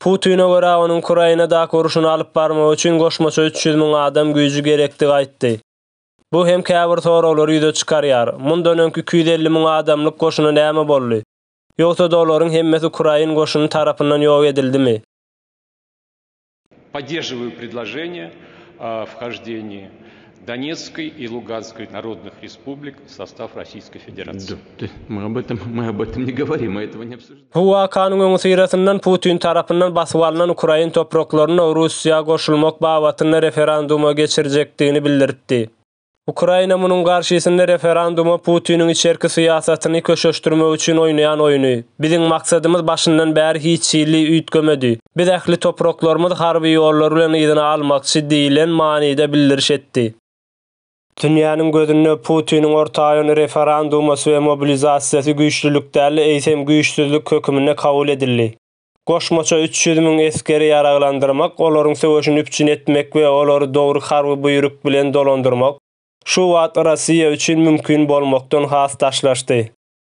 Putine görä, onuň Ukrainadaky urşuny alyp barmagy üçin goşmaça üç ýüz müň adam güýji gerekdigi aýtdy. Bu hem käbir soraglary ýüze çykarýar, mundan öňki iki ýüz elli müň adamlyk goşuna näme boldy? Ýogsa-da olaryň hemmesi ukrain goşuny tarapyndan ýok edildimi? Donetskoi i Luganskoi narodnoh respublik w sostaw Rossiýskoi Federacyýi. Bu wakanyň öňüsyrasyndan Putin tarapyndan basyp alnan ukrain topraklaryny Russiýa goşulmak babatynda referenduma geçirjekdigini bildiripdi. Ukraina munuň garşysynda referenduma Putiniň içerki syýasatyny köşeşdirmek üçin oýnaýan oýny. Biziň maksadymyz başyndan bäri hiç hili üýtgemedi. Biz ähli topraklarymyz harby ýollar bilen yzyna almakçy diýlen manyda bildiriş etdi. Dünýäniň gözünde Putiniň ortaýyn referandumasy we mobilizasiýasy güýçlülik däl, eýsem güýçsüzlik höküminde kabul edildi. Goşmaça üç ýüz müň esgeri ýaraglandyrmak, olaryň söweşini üpjün etmek we olary dogry harby buýruk bilen dolandyrmak şu wagt Rossiýa üçin mümkin bolmakdan has daşlaşdy.